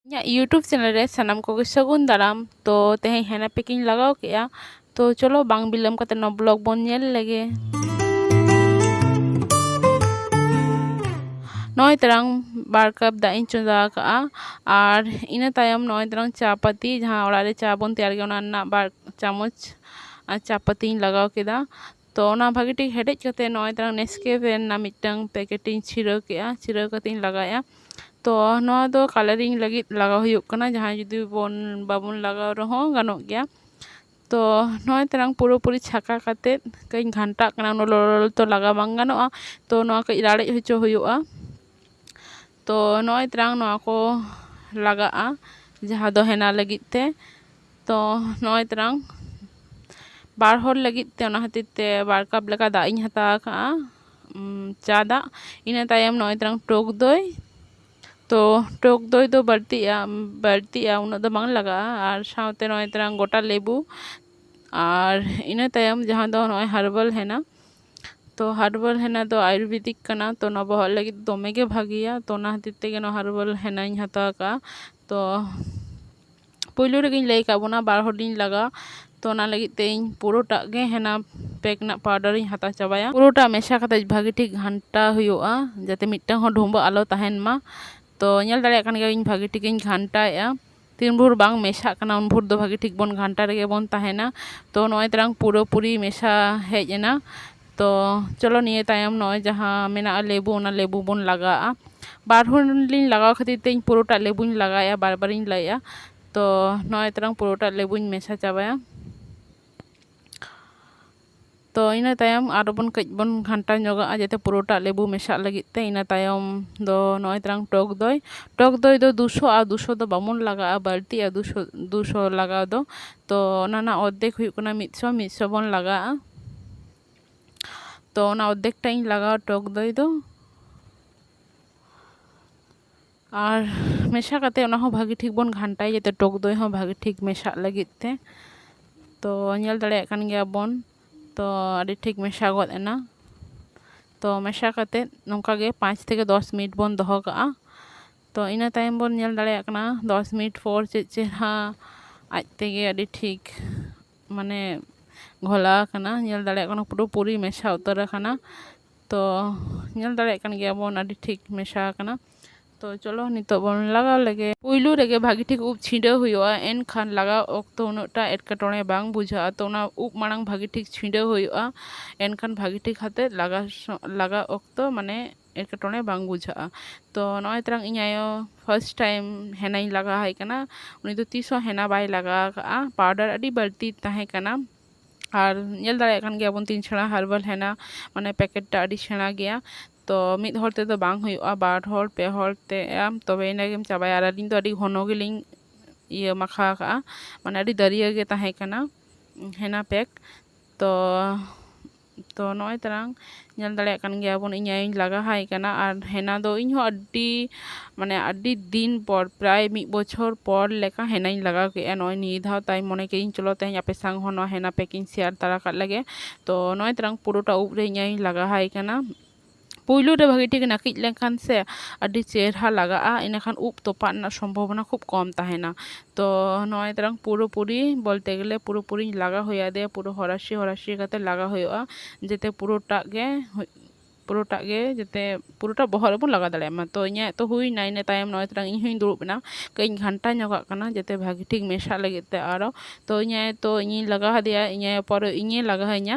ᱤᱧᱟᱹᱜ YouTube channel ᱨᱮ ᱥᱟᱱᱟᱢ ᱠᱚᱜᱮ ᱥᱟᱹᱜᱩᱱ ᱫᱟᱨᱟᱢ ᱛᱚ ᱛᱮᱦᱮᱧ ᱦᱮᱱᱟ ᱯᱮᱠᱤᱝ ᱞᱟᱜᱟᱣ ᱠᱮᱫᱼᱟ ᱛᱚ ᱪᱚᱞᱚ ᱵᱟᱝ ᱵᱤᱞᱚᱢ ᱠᱟᱛᱮ ᱱᱚᱣᱟ ᱵᱞᱚᱜ ᱵᱚᱱ ᱧᱮᱞ ᱞᱮᱜᱮ ᱱᱚᱜᱼᱚᱭ ᱛᱟᱨᱟᱝ ᱵᱟᱨ ᱠᱟᱯ ᱫᱟᱜ ᱤᱧ ᱪᱚᱸᱫᱟ ᱟᱠᱟᱫᱼᱟ ᱟᱨ ᱤᱱᱟᱹ ᱛᱟᱭᱚᱢ ᱱᱚᱜᱼᱚᱭ ᱛᱟᱨᱟᱝ ᱪᱟ ᱯᱟᱹᱛᱤ ᱡᱟᱦᱟᱸ ᱚᱲᱟᱜ ᱨᱮ ᱪᱟ ᱵᱚᱱ ᱛᱮᱭᱟᱨ ᱜᱮᱭᱟ ᱚᱱᱟ ᱨᱮᱱᱟᱜ ᱵᱟᱨ ᱪᱟᱢᱚᱪ ᱪᱟ ᱯᱟᱹᱛᱤᱧ ᱞᱟᱜᱟᱣ ᱠᱮᱫᱟ ᱛᱚ ᱚᱱᱟ ᱵᱷᱟᱹᱜᱤ ᱴᱷᱤᱠ ᱦᱮᱰᱮᱡ ᱠᱟᱛᱮᱫ ᱱᱚᱜᱼᱚᱭ ᱛᱚᱨᱟ ᱱᱮᱥᱠᱮᱯᱷᱮ ᱨᱮᱱᱟᱜ ᱢᱤᱫᱴᱟᱝ ᱯᱮᱠᱮᱴ ᱤᱧ ᱪᱷᱤᱲᱟᱹᱣ ᱠᱮᱫᱼᱟ ᱪᱷᱤᱲᱟᱹᱣ ᱠᱟᱛᱮᱫ ᱤᱧ ᱞᱟᱜᱟᱣᱮᱫᱼᱟ ᱛᱚ ᱱᱚᱣᱟ ᱫᱚ ᱠᱟᱞᱟᱨᱤᱝ ᱞᱟᱹᱜᱤᱫ ᱞᱟᱜᱟᱣ ᱦᱩᱭᱩᱜ ᱠᱟᱱᱟ ᱡᱟᱦᱟᱸᱭ ᱡᱩᱫᱤ ᱵᱚᱱ ᱵᱟᱵᱚᱱ ᱞᱟᱜᱟᱣ ᱨᱮᱦᱚᱸ ᱜᱟᱱᱚᱜ ᱜᱮᱭᱟ ᱛᱚ ᱱᱚᱜᱼᱚᱭ ᱛᱚᱨᱟᱝ ᱯᱩᱨᱟᱹ ᱯᱩᱨᱤ ᱪᱷᱟᱠᱟ ᱠᱟᱛᱮᱫ ᱠᱟᱹᱡ ᱤᱧ ᱜᱷᱟᱱᱴᱟᱜ ᱠᱟᱱᱟ ᱩᱱᱟᱹᱜ ᱞᱚᱞᱚ ᱞᱚᱞᱚ ᱛᱚ ᱞᱟᱜᱟᱣ ᱵᱟᱝ ᱜᱟᱱᱚᱜᱼᱟ ᱛᱚ ᱱᱚᱣᱟ ᱠᱟᱹᱡ ᱞᱟᱲᱮᱡ ᱦᱚᱪᱚ ᱦᱩᱭᱩᱜᱼᱟ ᱛᱚ ᱱᱚᱜᱼᱚᱭ ᱛᱟᱞᱟᱝ ᱱᱚᱣᱟ ᱠᱚ ᱞᱟᱜᱟᱜᱼᱟ ᱡᱟᱦᱟᱸ ᱫᱚ ᱦᱮᱱᱟ ᱞᱟᱹᱜᱤᱫ ᱛᱮ ᱛᱚ ᱱᱚᱜᱼᱚᱭ ᱛᱟᱞᱟᱝ ᱵᱟᱨ ᱦᱚᱲ ᱞᱟᱹᱜᱤᱫ ᱛᱮ ᱚᱱᱟ ᱠᱷᱟᱹᱛᱤᱨ ᱛᱮ ᱵᱟᱨ ᱠᱟᱯ ᱞᱮᱠᱟ ᱫᱟᱜ ᱤᱧ ᱦᱟᱛᱟᱣ ᱠᱟᱜᱼᱟ ᱪᱟ ᱫᱟᱜ ᱤᱱᱟᱹ ᱛᱟᱭᱚᱢ ᱱᱚᱜᱼᱚᱭ ᱛᱟᱞᱟᱝ ᱴᱚᱠ ᱫᱳᱭ ᱛᱚ ᱴᱚᱠ ᱫᱳᱭ ᱫᱚ ᱵᱟᱹᱲᱛᱤᱜᱼᱟ ᱵᱟᱹᱲᱛᱤᱜᱼᱟ ᱩᱱᱟᱹᱜ ᱫᱚ ᱵᱟᱝ ᱞᱟᱜᱟᱜᱼᱟ ᱟᱨ ᱥᱟᱶᱛᱮ ᱱᱚᱜᱼᱚᱭ ᱛᱟᱞᱟᱝ ᱜᱳᱴᱟ ᱞᱮᱵᱩ ᱟᱨ ᱤᱱᱟᱹ ᱛᱟᱭᱚᱢ ᱡᱟᱦᱟᱸ ᱫᱚ ᱱᱚᱜᱼᱚᱭ ᱦᱟᱨᱵᱟᱞ ᱦᱮᱱᱟ ᱛᱚ ᱦᱟᱨᱵᱟᱞ ᱦᱮᱱᱟ ᱫᱚ ᱟᱭᱩᱨᱵᱮᱫᱤᱠ ᱠᱟᱱᱟ ᱛᱚ ᱱᱚᱣᱟ ᱵᱚᱦᱚᱜ ᱞᱟᱹᱜᱤᱫ ᱫᱚᱢᱮ ᱜᱮ ᱵᱷᱟᱹᱜᱤᱭᱟ ᱛᱚ ᱚᱱᱟ ᱠᱷᱟᱹᱛᱤᱨ ᱛᱮᱜᱮ ᱱᱚᱣᱟ ᱦᱟᱨᱵᱟᱞ ᱦᱮᱱᱟᱧ ᱦᱟᱛᱟᱣ ᱠᱟᱜᱼᱟ ᱛᱚ ᱯᱳᱭᱞᱳ ᱨᱮᱜᱮᱧ ᱞᱟᱹᱭ ᱠᱟᱜ ᱵᱚᱱᱟ ᱵᱟᱨ ᱦᱚᱲᱤᱧ ᱞᱟᱜᱟᱜᱼᱟ ᱛᱚ ᱚᱱᱟ ᱞᱟᱹᱜᱤᱫ ᱛᱮ ᱤᱧ ᱯᱩᱨᱟᱹᱴᱟᱜ ᱜᱮ ᱦᱮᱱᱟ ᱯᱮᱠ ᱨᱮᱱᱟᱜ ᱯᱟᱣᱰᱟᱨᱤᱧ ᱦᱟᱛᱟᱣ ᱪᱟᱵᱟᱭᱟ ᱯᱩᱨᱟᱹᱴᱟ ᱢᱮᱥᱟ ᱠᱟᱛᱮ ᱵᱷᱟᱹᱜᱤ ᱴᱷᱤᱠ ᱜᱷᱟᱱᱴᱟ ᱦᱩᱭᱩᱜᱼᱟ ᱡᱟᱛᱮ ᱢᱤᱫᱴᱟᱝ ᱦᱚᱸ ᱰᱷᱩᱢᱵᱟᱹᱜ ᱟᱞᱚ ᱛᱟᱦᱮᱱ ᱢᱟ ᱛᱚ ᱧᱮᱞ ᱫᱟᱲᱮᱭᱟᱜ ᱠᱟᱱ ᱜᱮᱭᱟᱵᱤᱱ ᱵᱷᱟᱹᱜᱤ ᱴᱷᱤᱠᱤᱧ ᱜᱷᱟᱱᱴᱟᱭᱮᱜᱼᱟ ᱛᱤᱱ ᱵᱷᱳᱨ ᱵᱟᱝ ᱢᱮᱥᱟᱜ ᱠᱟᱱᱟ ᱩᱱ ᱵᱷᱳᱨ ᱫᱚ ᱵᱷᱟᱹᱜᱤ ᱴᱷᱤᱠ ᱵᱚᱱ ᱜᱷᱟᱱᱴᱟ ᱨᱮᱜᱮ ᱵᱚᱱ ᱛᱟᱦᱮᱱᱟ ᱛᱚ ᱱᱚᱜᱼᱚᱭ ᱛᱟᱞᱟᱝ ᱯᱩᱨᱟᱹᱯᱩᱨᱤ ᱢᱮᱥᱟ ᱦᱮᱡ ᱮᱱᱟ ᱛᱚ ᱪᱚᱞᱚ ᱱᱤᱭᱟᱹ ᱛᱟᱭᱚᱢ ᱱᱚᱜᱼᱚᱭ ᱡᱟᱦᱟᱸ ᱢᱮᱱᱟᱜᱼᱟ ᱞᱮᱵᱩ ᱚᱱᱟ ᱞᱮᱵᱩ ᱵᱚᱱ ᱞᱟᱜᱟᱣᱟᱜᱼᱟ ᱵᱟᱨ ᱦᱚᱲ ᱞᱤᱧ ᱞᱟᱜᱟᱣ ᱠᱷᱟᱹᱛᱤᱨ ᱛᱮ ᱯᱩᱨᱟᱹᱴᱟ ᱞᱮᱵᱩᱧ ᱞᱟᱜᱟᱣᱮᱫᱼᱟ ᱵᱟᱨ ᱵᱟᱨᱤᱧ ᱞᱟᱹᱭᱮᱫᱼᱟ ᱛᱚ ᱱᱚᱜᱼᱚᱭ ᱛᱟᱞᱟᱝ ᱯᱩᱨᱟᱹᱴᱟ ᱞᱮᱵᱩᱧ ᱢᱮᱥᱟ ᱪᱟᱵᱟᱭᱟ ᱛᱚ ᱤᱱᱟᱹ ᱛᱟᱭᱚᱢ ᱟᱨᱚ ᱵᱚᱱ ᱠᱟᱹᱡ ᱵᱚᱱ ᱜᱷᱟᱱᱴᱟ ᱧᱚᱜᱟᱜᱼᱟ ᱡᱟᱛᱮ ᱯᱩᱨᱟᱹᱴᱟᱜ ᱞᱮᱵᱩ ᱢᱮᱥᱟᱜ ᱞᱟᱹᱜᱤᱫ ᱛᱮ ᱤᱱᱟᱹ ᱛᱟᱭᱚᱢ ᱫᱚ ᱱᱚᱜᱼᱚᱸᱭ ᱛᱟᱞᱟᱝ ᱴᱚᱠ ᱫᱚᱭ ᱴᱚᱠ ᱫᱚᱭ ᱫᱚ ᱫᱩ ᱥᱚ ᱟᱨ ᱫᱩ ᱥᱚ ᱫᱚ ᱵᱟᱵᱚᱱ ᱞᱟᱜᱟᱣᱟᱜᱼᱟ ᱵᱟᱹᱲᱛᱤᱜᱼᱟ ᱫᱩ ᱥᱚ ᱫᱩ ᱥᱚ ᱞᱟᱜᱟᱣ ᱫᱚ ᱛᱚ ᱚᱱᱟ ᱨᱮᱱᱟᱜ ᱚᱨᱫᱷᱮᱠ ᱦᱩᱭᱩᱜ ᱠᱟᱱᱟ ᱢᱤᱫ ᱥᱚ ᱢᱤᱫ ᱥᱚ ᱵᱚᱱ ᱞᱟᱜᱟᱣᱟᱜᱼᱟ ᱛᱚ ᱚᱱᱟ ᱚᱨᱫᱷᱮᱠ ᱴᱟᱜ ᱤᱧ ᱞᱟᱜᱟᱣᱟ ᱴᱚᱠ ᱫᱚᱭ ᱫᱚ ᱟᱨ ᱢᱮᱥᱟ ᱠᱟᱛᱮᱫ ᱚᱱᱟ ᱦᱚᱸ ᱵᱷᱟᱹᱜᱤ ᱴᱷᱤᱠ ᱵᱚᱱ ᱜᱷᱟᱱᱴᱟᱭᱟ ᱡᱟᱛᱮ ᱴᱚᱠ ᱫᱚᱭ ᱦᱚᱸ ᱵᱷᱟᱹᱜᱤ ᱴᱷᱤᱠ ᱢᱮᱥᱟᱜ ᱞᱟᱹᱜᱤᱫ ᱛᱮ ᱛᱚ ᱧᱮᱞ ᱫᱟᱲᱮᱭᱟᱜ ᱠᱟᱱ ᱜᱮᱭᱟ ᱵᱚᱱ ᱛᱚ ᱟᱹᱰᱤ ᱴᱷᱤᱠ ᱢᱮᱥᱟ ᱜᱚᱫ ᱮᱱᱟ ᱛᱚ ᱢᱮᱥᱟ ᱠᱟᱛᱮᱫ ᱱᱚᱝᱠᱟ ᱜᱮ ᱯᱟᱸᱪ ᱛᱷᱮᱠᱮ ᱫᱚᱥ ᱢᱤᱱᱤᱴ ᱵᱚᱱ ᱫᱚᱦᱚ ᱠᱟᱜᱼᱟ ᱛᱚ ᱤᱱᱟᱹ ᱛᱟᱭᱚᱢ ᱵᱚᱱ ᱧᱮᱞ ᱫᱟᱲᱮᱭᱟᱜ ᱠᱟᱱᱟ ᱫᱚᱥ ᱢᱤᱱᱤᱴ ᱯᱚᱨ ᱪᱮᱫ ᱪᱮᱦᱨᱟ ᱟᱡ ᱛᱮᱜᱮ ᱟᱹᱰᱤ ᱴᱷᱤᱠ ᱢᱟᱱᱮ ᱜᱷᱚᱞᱟᱣ ᱠᱟᱱᱟ ᱧᱮᱞ ᱫᱟᱲᱮᱭᱟᱜ ᱠᱟᱱᱟ ᱯᱩᱨᱟᱹᱯᱩᱨᱤ ᱢᱮᱥᱟ ᱩᱛᱟᱹᱨ ᱟᱠᱟᱱᱟ ᱛᱚ ᱧᱮᱞ ᱫᱟᱲᱮᱭᱟᱜ ᱠᱟᱱ ᱜᱮᱭᱟᱵᱚᱱ ᱟᱹᱰᱤ ᱴᱷᱤᱠ ᱢᱮᱥᱟ ᱟᱠᱟᱱᱟ ᱛᱚ ᱪᱚᱞᱚ ᱱᱤᱛᱚᱜ ᱵᱚᱱ ᱞᱟᱜᱟᱣ ᱞᱮᱜᱮ ᱯᱩᱭᱞᱩ ᱨᱮᱜᱮ ᱵᱷᱟᱹᱜᱤ ᱴᱷᱤᱠ ᱩᱵ ᱪᱷᱤᱰᱟᱹᱣ ᱦᱩᱭᱩᱜᱼᱟ ᱮᱱᱠᱷᱟᱱ ᱞᱟᱜᱟᱣ ᱚᱠᱛᱚ ᱩᱱᱟᱹᱜᱴᱟ ᱮᱴᱠᱮᱴᱚᱬᱮ ᱵᱟᱝ ᱵᱩᱡᱷᱟᱹᱜᱼᱟ ᱛᱚ ᱚᱱᱟ ᱩᱵ ᱢᱟᱲᱟᱝ ᱵᱷᱟᱹᱜᱤ ᱴᱷᱤᱠ ᱪᱷᱤᱰᱟᱹᱣ ᱦᱩᱭᱩᱜᱼᱟ ᱮᱱᱠᱷᱟᱱ ᱵᱷᱟᱹᱜᱤ ᱴᱷᱤᱠ ᱟᱛᱮᱫ ᱞᱟᱜᱟᱣ ᱞᱟᱜᱟᱣ ᱚᱠᱛᱚ ᱢᱟᱱᱮ ᱮᱴᱠᱮᱴᱚᱬᱮ ᱵᱟᱝ ᱵᱩᱡᱷᱟᱹᱜᱼᱟ ᱛᱚ ᱱᱚᱜᱼᱚᱭ ᱛᱟᱨᱟᱝ ᱤᱧ ᱟᱭᱳ ᱯᱷᱟᱥᱴ ᱴᱟᱭᱤᱢ ᱦᱮᱱᱟᱧ ᱞᱟᱜᱟᱣᱟᱭ ᱠᱟᱱᱟ ᱩᱱᱤ ᱫᱚ ᱛᱤᱥ ᱦᱚᱸ ᱦᱮᱱᱟ ᱵᱟᱭ ᱞᱟᱜᱟᱣ ᱠᱟᱜᱼᱟ ᱯᱟᱣᱰᱟᱨ ᱟᱹᱰᱤ ᱵᱟᱹᱲᱛᱤ ᱛᱟᱦᱮᱸ ᱠᱟᱱᱟ ᱟᱨ ᱧᱮᱞ ᱫᱟᱲᱮᱭᱟᱜ ᱠᱟᱱ ᱜᱮᱭᱟᱵᱚᱱ ᱛᱤᱱ ᱪᱷᱟᱲᱟ ᱦᱟᱨᱵᱟᱞ ᱦᱮᱱᱟ ᱢᱟᱱᱮ ᱯᱮᱠᱮᱴ ᱴᱟᱜ ᱟᱹᱰᱤ ᱥᱮᱬᱟ ᱜᱮᱭᱟ ᱛᱚ ᱢᱤᱫ ᱦᱚᱲ ᱛᱮᱫᱚ ᱵᱟᱝ ᱦᱩᱭᱩᱜᱼᱟ ᱵᱟᱨ ᱦᱚᱲ ᱯᱮ ᱦᱚᱲ ᱛᱮ ᱟᱢ ᱛᱚᱵᱮ ᱟᱹᱱᱤᱡ ᱜᱮᱢ ᱪᱟᱵᱟᱭᱟ ᱟᱨ ᱟᱹᱞᱤᱧ ᱫᱚ ᱟᱹᱰᱤ ᱜᱷᱚᱱᱚ ᱜᱮᱞᱤᱧ ᱤᱭᱟᱹ ᱢᱟᱠᱷᱟᱣ ᱠᱟᱜᱼᱟ ᱢᱟᱱᱮ ᱟᱹᱰᱤ ᱫᱟᱹᱨᱭᱟᱹ ᱜᱮ ᱛᱟᱦᱮᱸ ᱠᱟᱱᱟ ᱦᱮᱱᱟ ᱯᱮᱠ ᱛᱚ ᱛᱚ ᱱᱚᱜᱼᱚᱸᱭ ᱛᱟᱞᱟᱝ ᱧᱮᱞ ᱫᱟᱲᱮᱭᱟᱜ ᱠᱟᱱ ᱜᱮᱭᱟ ᱵᱚᱱ ᱤᱧ ᱟᱭᱳᱧ ᱞᱟᱜᱟ ᱦᱟᱭ ᱠᱟᱱᱟ ᱟᱨ ᱦᱮᱱᱟ ᱫᱚ ᱤᱧ ᱦᱚᱸ ᱟᱹᱰᱤ ᱢᱟᱱᱮ ᱟᱹᱰᱤ ᱫᱤᱱ ᱯᱚᱨ ᱯᱨᱟᱭ ᱢᱤᱫ ᱵᱚᱪᱷᱚᱨ ᱯᱚᱨ ᱞᱮᱠᱟ ᱦᱮᱱᱟᱧ ᱞᱟᱜᱟᱣ ᱠᱮᱫᱼᱟ ᱱᱚᱜᱼᱚᱸᱭ ᱱᱤᱭᱟᱹ ᱫᱷᱟᱣ ᱛᱟᱭ ᱢᱚᱱᱮ ᱠᱮᱫᱟᱹᱧ ᱪᱚᱞᱚ ᱛᱮᱦᱮᱧ ᱟᱯᱮ ᱥᱟᱝ ᱦᱚᱸ ᱱᱚᱣᱟ ᱦᱮᱱᱟ ᱯᱮᱠᱤᱧ ᱥᱮᱭᱟᱨ ᱛᱟᱨᱟ ᱠᱟᱜ ᱞᱮᱜᱮ ᱛᱚ ᱱᱚᱜᱼᱚᱸᱭ ᱛᱟᱞᱟᱝ ᱯᱩᱨᱟᱹᱴᱟ ᱩᱵ ᱨᱮ ᱤᱧ ᱟᱭᱳᱧ ᱞᱟᱜᱟ ᱦᱟᱭ ᱠᱟᱱᱟ ᱯᱩᱭᱞᱩ ᱨᱮ ᱵᱷᱟᱹᱜᱤ ᱴᱷᱤᱠ ᱱᱟᱹᱠᱤᱡ ᱞᱮᱱᱠᱷᱟᱱ ᱥᱮ ᱟᱹᱰᱤ ᱪᱮᱦᱨᱟ ᱞᱟᱜᱟᱜᱼᱟ ᱤᱱᱟᱹ ᱠᱷᱟᱱ ᱩᱵ ᱛᱚᱯᱟᱜ ᱨᱮᱱᱟᱜ ᱥᱚᱢᱵᱷᱚᱵᱚᱱᱟ ᱠᱷᱩᱵᱽ ᱠᱚᱢ ᱛᱟᱦᱮᱱᱟ ᱛᱚ ᱱᱚᱜᱼᱚᱭ ᱛᱟᱨᱟᱝ ᱯᱩᱨᱟᱹᱯᱩᱨᱤ ᱵᱚᱞᱛᱮ ᱜᱮᱞᱮ ᱯᱩᱨᱟᱹᱯᱩᱨᱤ ᱞᱟᱜᱟᱣ ᱦᱩᱭ ᱟᱫᱮᱭᱟ ᱯᱩᱨᱟᱹ ᱦᱚᱨᱟᱥᱤ ᱦᱚᱨᱟᱥᱤ ᱠᱟᱛᱮᱫ ᱞᱟᱜᱟᱣ ᱦᱩᱭᱩᱜᱼᱟ ᱡᱟᱛᱮ ᱯᱩᱨᱟᱹᱴᱟᱜ ᱜᱮ ᱯᱩᱨᱟᱹᱴᱟᱜ ᱜᱮ ᱡᱟᱛᱮ ᱯᱩᱨᱟᱹᱴᱟ ᱵᱚᱦᱚᱜ ᱨᱮᱵᱚᱱ ᱞᱟᱜᱟᱣ ᱫᱟᱲᱮᱭᱟᱜ ᱢᱟ ᱛᱚ ᱤᱧᱟᱹᱜ ᱛᱚ ᱦᱩᱭᱱᱟ ᱤᱱᱟᱹ ᱛᱟᱭᱚᱢ ᱱᱚᱜᱼᱚᱭ ᱛᱚᱨᱟᱝ ᱤᱧ ᱦᱚᱸᱧ ᱫᱩᱲᱩᱵ ᱮᱱᱟ ᱠᱟᱹᱡ ᱤᱧ ᱜᱷᱟᱱᱴᱟ ᱧᱚᱜᱟᱜ ᱠᱟᱱᱟ ᱡᱟᱛᱮ ᱵᱷᱟᱹᱜᱤ ᱴᱷᱤᱠ ᱢᱮᱥᱟᱜ ᱞᱟᱹᱜᱤᱫ ᱛᱮ ᱟᱨᱚ ᱛᱚ ᱤᱧ ᱟᱭᱳ ᱛᱚ ᱤᱧᱤᱧ ᱞᱟᱜᱟᱣ ᱟᱫᱮᱭᱟ ᱤᱧ ᱟᱭᱳ ᱯᱚᱨᱮ ᱤᱧᱮᱭ ᱞᱟᱜᱟᱣᱤᱧᱟᱹ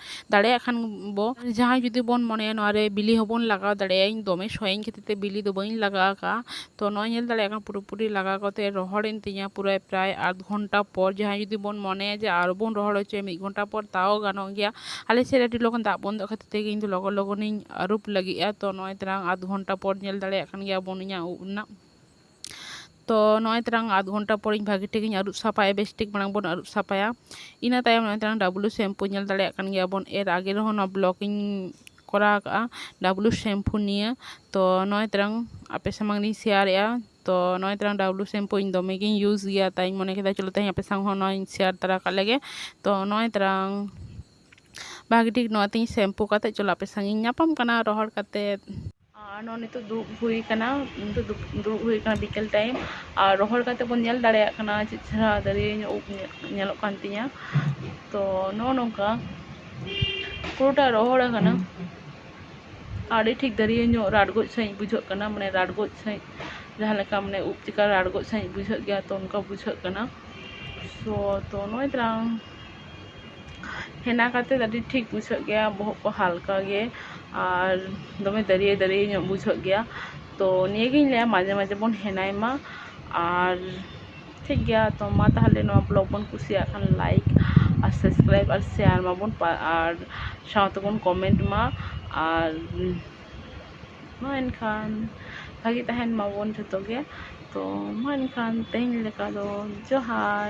ᱫᱟᱲᱮᱭᱟᱜ ᱠᱷᱟᱱ ᱵᱚ ᱡᱟᱦᱟᱸᱭ ᱡᱩᱫᱤ ᱵᱚᱱ ᱢᱚᱱᱮᱭᱟ ᱱᱚᱣᱟ ᱨᱮ ᱵᱤᱞᱤ ᱦᱚᱸ ᱵᱚᱱ ᱞᱟᱜᱟᱣ ᱫᱟᱲᱮᱭᱟᱜᱼᱟ ᱤᱧ ᱫᱚᱢᱮ ᱥᱚᱭᱤᱧ ᱠᱷᱟᱹᱛᱤᱨ ᱛᱮ ᱵᱤᱞᱤ ᱫᱚ ᱵᱟᱹᱧ ᱞᱟᱜᱟᱣ ᱟᱠᱟᱜᱼᱟ ᱛᱚ ᱱᱚᱜᱼᱚᱭ ᱧᱮᱞ ᱫᱟᱲᱮᱭᱟᱜ ᱠᱟᱱᱟ ᱯᱩᱨᱟᱹᱯᱩᱨᱤ ᱞᱟᱜᱟᱣ ᱠᱟᱛᱮ ᱨᱚᱦᱚᱲᱮᱱ ᱛᱤᱧᱟ ᱯᱩᱨᱟᱹ ᱯᱨᱟᱭ ᱟᱫᱷ ᱜᱷᱚᱱᱴᱟ ᱯᱚᱨ ᱡᱟᱦᱟᱸᱭ ᱡᱩᱫᱤ ᱵᱚᱱ ᱢᱚᱱᱮᱭᱟ ᱡᱮ ᱟᱨᱚ ᱵᱚᱱ ᱨᱚᱦᱚᱲ ᱦᱚᱪᱚᱭᱟ ᱢᱤᱫ ᱜᱷᱚᱱᱴᱟ ᱯᱚᱨ ᱛᱟᱣ ᱜᱟᱱᱚᱜ ᱜᱮᱭᱟ ᱟᱞᱮ ᱥᱮᱫ ᱨᱮ ᱟᱹᱰᱤ ᱞᱚᱜᱚᱱ ᱫᱟᱜ ᱵᱚᱱᱫᱚᱜ ᱠᱷᱟᱹᱛᱤᱨ ᱛᱮᱜᱮ ᱤᱧ ᱫᱚ ᱞᱚᱜᱚᱱ ᱞᱚᱜᱚᱱᱤᱧ ᱟᱹᱨᱩᱵ ᱞᱟᱹᱜᱤᱫᱼᱟ ᱛᱚ ᱱᱚᱜᱼᱚᱭ ᱛᱟᱞᱟᱝ ᱟᱫᱷ ᱜᱷᱚᱱᱴᱟ ᱯᱚᱨ ᱧᱮᱞ ᱫᱟᱲᱮᱭᱟᱜ ᱠᱟᱱ ᱜᱮᱭᱟ ᱵᱚᱱ ᱤᱧᱟᱹᱜ ᱩᱵ ᱨᱮᱱᱟᱜ ᱛᱚ ᱱᱚᱜᱼᱚᱭ ᱛᱟᱞᱟᱝ ᱟᱫᱷ ᱜᱷᱚᱱᱴᱟ ᱯᱚᱨᱮᱧ ᱵᱷᱟᱹᱜᱤ ᱴᱷᱤᱠ ᱤᱧ ᱟᱹᱨᱩᱵ ᱥᱟᱯᱷᱟᱭᱟ ᱵᱮᱥ ᱴᱷᱤᱠ ᱢᱟᱲᱟᱝ ᱵᱚᱱ ᱟᱹᱨᱩᱵ ᱥᱟᱯᱷᱟᱭᱟ ᱤᱱᱟᱹ ᱛᱟᱭᱚᱢ ᱱᱚᱜᱼᱚᱭ ᱛᱟᱞᱟᱝ ᱰᱟᱵᱞᱩ ᱥᱮᱢᱯᱩ ᱧᱮᱞ ᱫᱟᱲᱮᱭᱟᱜ ᱠᱟᱱ ᱜᱮᱭᱟ ᱵᱚᱱ ᱮᱨ ᱟᱜᱮ ᱨᱮᱦᱚᱸ ᱱᱚᱣᱟ ᱵᱞᱚᱜᱽ ᱤᱧ ᱠᱚᱨᱟᱣ ᱠᱟᱜᱼᱟ ᱰᱟᱵᱞᱩ ᱥᱮᱢᱯᱩ ᱱᱤᱭᱮ ᱛᱚ ᱱᱚᱜᱼᱚᱭ ᱛᱟᱞᱟᱝ ᱟᱯᱮ ᱥᱟᱢᱟᱝ ᱨᱤᱧ ᱥᱮᱭᱟᱨᱮᱜᱼᱟ ᱛᱚ ᱱᱚᱜᱼᱚᱭ ᱛᱟᱞᱟᱝ ᱰᱟᱵᱞᱩ ᱥᱮᱢᱯᱩ ᱤᱧ ᱫᱚᱢᱮ ᱜᱤᱧ ᱤᱭᱩᱡᱽ ᱜᱮᱭᱟ ᱛᱟᱭᱤᱧ ᱢᱚᱱᱮ ᱠᱮᱫᱟ ᱪᱚᱞᱚ ᱛᱮᱦᱮᱧ ᱟᱯᱮ ᱥᱟᱶ ᱦᱚᱸ ᱱᱚᱣᱟᱧ ᱥᱮᱭᱟᱨ ᱛᱟᱨᱟ ᱠᱟᱜ ᱞᱮᱜᱮ ᱛᱚ ᱱᱚᱜᱼᱚᱭ ᱛᱟᱞᱟᱝ ᱵᱷᱟᱹᱜᱤ ᱴᱷᱤᱠ ᱱᱚᱣᱟ ᱛᱤᱧ ᱥᱮᱢᱯᱩ ᱠᱟᱛᱮ ᱪᱚᱞᱚ ᱟᱯᱮ ᱥᱟᱶ ᱤᱧ ᱧᱟᱯᱟᱢ ᱠᱟᱱᱟ ᱨᱚᱦᱚᱲ ᱠᱟᱛᱮ ᱟᱨ ᱱᱚᱜᱼᱚᱭ ᱱᱤᱛᱚᱜ ᱫᱩᱲᱩᱵ ᱦᱩᱭ ᱠᱟᱱᱟ ᱱᱤᱛᱚᱜ ᱫᱩᱲᱩᱵ ᱦᱩᱭ ᱠᱟᱱᱟ ᱵᱤᱠᱮᱞ ᱴᱟᱭᱤᱢ ᱟᱨ ᱨᱚᱦᱚᱲ ᱠᱟᱛᱮ ᱵᱚᱱ ᱧᱮᱞ ᱫᱟᱲᱮᱭᱟᱜ ᱠᱟᱱᱟ ᱪᱮᱫ ᱪᱮᱦᱨᱟ ᱫᱟᱨᱮ ᱩᱵ ᱧᱮᱞᱚᱜ ᱠᱟᱱ ᱛᱤᱧᱟᱹ ᱛᱚ ᱱᱚᱜᱼᱚ ᱱᱚᱝᱠᱟ ᱯᱩᱨᱟᱹᱴᱟ ᱨᱚᱦᱚᱲ ᱟᱠᱟᱱᱟ ᱟᱹᱰᱤ ᱴᱷᱤᱠ ᱫᱟᱨᱮ ᱧᱚᱜ ᱨᱟᱰᱜᱚᱡ ᱥᱟᱺᱦᱤᱡ ᱵᱩᱡᱷᱟᱹᱜ ᱠᱟᱱᱟ ᱢᱟᱱᱮ ᱨᱟᱰᱜᱚᱡ ᱥᱟᱺᱦᱤᱡ ᱡᱟᱦᱟᱸ ᱞᱮᱠᱟ ᱢᱟᱱᱮ ᱩᱵ ᱪᱮᱠᱟ ᱨᱟᱰᱜᱚᱡ ᱥᱟᱺᱦᱤᱡ ᱵᱩᱡᱷᱟᱹᱜ ᱜᱮᱭᱟ ᱛᱚ ᱚᱱᱠᱟ ᱵᱩᱡᱷᱟᱹᱜ ᱠᱟᱱᱟ ᱥᱚ ᱛᱚ ᱱᱚᱜᱼᱚᱭ ᱛᱟᱨᱟᱝ ᱦᱮᱱᱟ ᱠᱟᱛᱮ ᱟᱹᱰᱤ ᱴᱷᱤᱠ ᱵᱩᱡᱷᱟᱹᱜ ᱜᱮᱭᱟ ᱵᱚᱦᱚᱜ ᱠᱚ ᱦᱟᱞᱠᱟ ᱜᱮ ᱟᱨ ᱫᱚᱢᱮ ᱫᱟᱹᱨᱭᱟᱹ ᱫᱟᱹᱨᱭᱟᱹ ᱧᱚᱜ ᱵᱩᱡᱷᱟᱹᱜ ᱜᱮᱭᱟ ᱛᱚ ᱱᱤᱭᱟᱹ ᱜᱮᱧ ᱞᱟᱹᱭᱟ ᱢᱟᱡᱷᱮ ᱢᱟᱡᱷᱮ ᱵᱚᱱ ᱦᱮᱱᱟᱭ ᱢᱟ ᱟᱨ ᱴᱷᱤᱠ ᱜᱮᱭᱟ ᱛᱚ ᱢᱟ ᱛᱟᱦᱚᱞᱮ ᱱᱚᱣᱟ ᱵᱞᱚᱜᱽ ᱵᱚᱱ ᱠᱩᱥᱤᱭᱟᱜ ᱠᱷᱟᱱ ᱞᱟᱭᱤᱠ ᱟᱨ ᱥᱟᱵᱥᱠᱨᱟᱭᱤᱵᱽ ᱟᱨ ᱥᱮᱭᱟᱨ ᱢᱟᱵᱚᱱ ᱟᱨ ᱥᱟᱶᱛᱮ ᱵᱚᱱ ᱠᱚᱢᱮᱱᱴ ᱢᱟ ᱟᱨ ᱢᱟ ᱮᱱᱠᱷᱟᱱ ᱵᱷᱟᱹᱜᱤ ᱛᱟᱦᱮᱱ ᱢᱟᱵᱚᱱ ᱡᱷᱚᱛᱚ ᱜᱮ ᱛᱚ ᱢᱟ ᱮᱱᱠᱷᱟᱱ ᱛᱮᱦᱮᱧ ᱞᱮᱠᱟ ᱫᱚ ᱡᱚᱦᱟᱨ